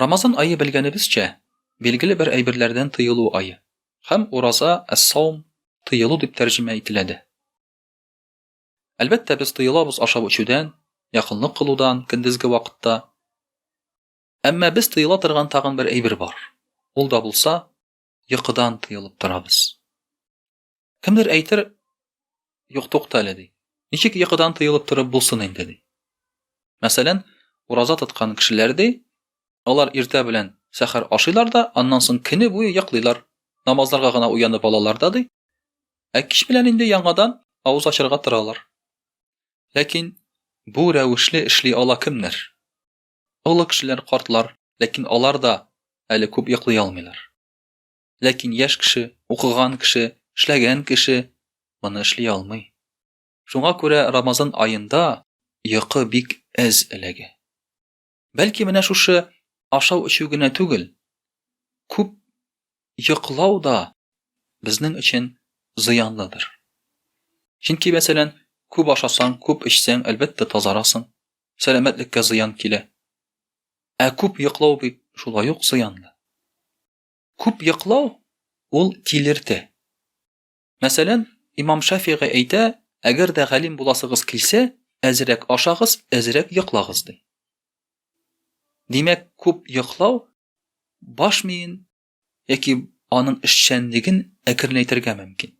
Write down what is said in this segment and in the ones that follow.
Рамазан ае белгәнебезчә, билгеле бер әйберләрдән тыелу ае. Һәм ураза, әс-саум, тыелу дип тәрҗемә ителә дә. Әлбәттә, без тыелабыз ашап-эчүдән, якынлык кылудан көндезге вакытта. Әмма без тыела торган тагын бер әйбер бар. Ул да булса, йокыдан тыелып торабыз. Кемдер әйтер, юк тукта әле ди. Ничек йокыдан тыелып торып булсын инде ди. Мәсәлән, ураза тоткан кешеләр ди, алар иртә белән сәхәр ашыйлар да, аннан соң көне буе йоклыйлар. Намазларга гына уянып алалар да ди. Ә кич белән инде яңадан авыз ачарга торалар. Ләкин бу рәвешле эшли ала кемнәр? Олы кешеләр, картлар, ләкин алар да әле күп йоклый алмыйлар. Ләкин яшь кеше, укыган кеше, эшләгән кеше моны эшли алмый. Шуңа күрә Рамазан аенда йокы бик әз эләгә. Бәлки менә шушы ашау-эчү генә түгел, күп йоклау да безнең өчен зыянлыдыр. Чөнки, мәсәлән, күп ашасаң, күп эчсәң, әлбәттә, тазарасың, сәламәтлеккә зыян килә. Ә күп йоклау бит шулай ук зыянлы. Күп йоклау ул тилертә. Мәсәлән, имам Шафигый әйтә, әгәр дә галим буласыгыз килсә, әзрәк ашагыз, әзрәк йоклагыз ди. Димәк, күп йоклау баш миен яки аның эшчәнлеген әкренәйтергә мөмкин.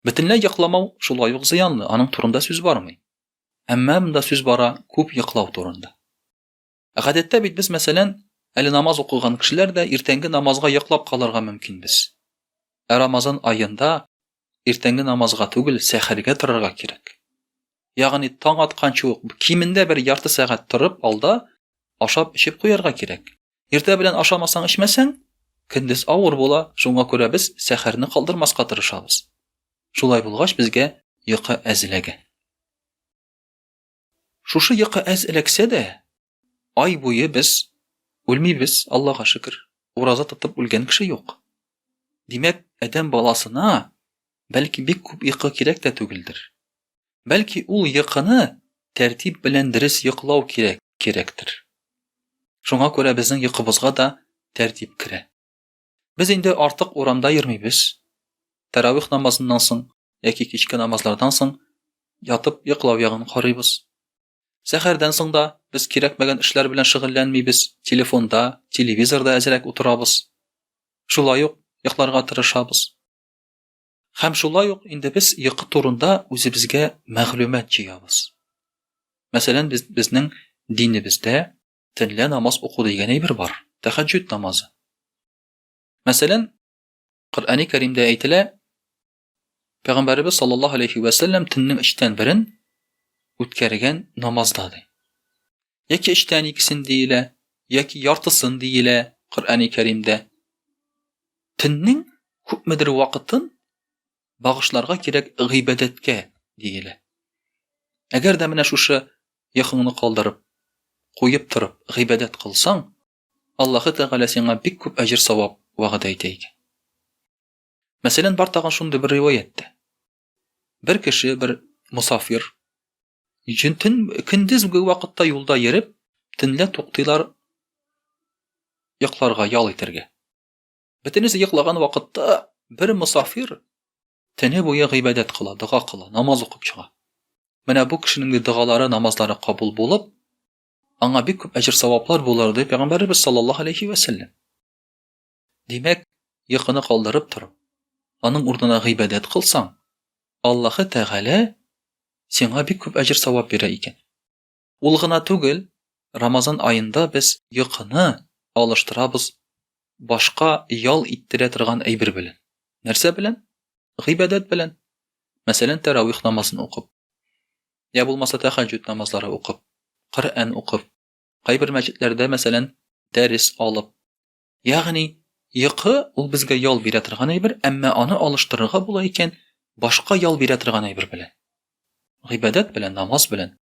Бөтенләй йокламау шулай ук зыянлы, аның турында сүз бармый. Әмма монда сүз бара күп йоклау турында. Гадәттә бит без, мәсәлән, әле намаз укыган кешеләр дә иртәнге намазга йоклап калырга мөмкинбез. Ә Рамазан аенда иртәнге намазга түгел, сәхәргә торырга кирәк. Ягъни таң атканчы ук кимендә бер ярты сәгать торып алда ашап эчеп куярга кирәк. Иртә белән ашамасаң, эчмәсәң, көндез авыр була, шуңа күрә без сәхәрне калдырмаска тырышабыз. Шулай булгач, безгә йокы әзеләгән. Шушы йокы әз эләксә дә, ай буе без үлмибез, Аллага шөкер. Ураза тотып үлгән кеше юк. Димәк, адәм баласына бәлки бик күп йокы кирәк тә түгелдер. Бәлки ул йокыны тәртип белән дөрес йоклау кирәк, кирәктер. Шуңа күрә безнең йокыбызга да тәртип керә. Без инде артык урамда йөрмибез. Тәравих намазыннан соң яки кичке намазлардан соң ятып йоклау ягын карыйбыз. Сәхәрдән соң да без кирәкмәгән эшләр белән шөгыльләнмибез, телефонда, телевизорда әзрәк утырабыз. Шулай ук йокларга тырышабыз. Һәм шулай ук инде без йокы турында үзебезгә мәгълүмат җыябыз. Мәсәлән, без, безнең динебездә Төнлә намаз уку дигән әйбер бар, тәхәҗҗүд намазы. Мәсәлән, Коръәни Кәримдә әйтелә, Пәйгамбәребез саллаллаһу алейхи ва саллям төннең өчтән берен үткәргән намазда ди. Яки өчтән икесен диелә, яки яртысын диелә Коръәни Кәримдә. Төннең күпмедер вакытын багышларга кирәк гыйбадәткә, диелә. Әгәр дә менә шушы йокыңны калдырып, куеп торып, гыйбадәт кылсаң, Аллаһы Тәгалә сиңа бик күп әҗер-савап вәгъдә итә икән. Мәсәлән, бар тагын шундый бер риваять тә. Бер кеше, бер мусафир, төн көндезге вакытта юлда йөреп, төнлә туктыйлар йокларга, ял итәргә. Бөтенесе йоклаган вакытта бер мусафир тәне буе гыйбадәт кыла, дога кыла, намаз укып чыга. Менә бу кешенең дә догалары, намазлары кабул булып, аңа бик күп әҗер саваплар булыр дип пәйгамбәрбез саллаллаһу алейхи ва саллям. Димәк, йокыны калдырып торып, аның урынына гыйбадәт кылсаң, Аллаһы Тәгалә сиңа бик күп әҗер савап бирә икән. Ул гына түгел, Рамазан аенда без йокыны алыштырабыз башка ял иттерә торган әйбер белән. Нәрсә белән? Гыйбадәт белән. Мәсәлән, тәравих намазын укып. Я булмаса тәхәҗҗүд намазлары укып, Коръән укып, кайбер мәчетләрдә, мәсәлән, дәрес алып. Ягъни, йокы ул безгә ял бирә торган әйбер, әмма аны алыштырырга була икән башка ял бирә торган әйбер белән. Гыйбадәт белән, намаз белән.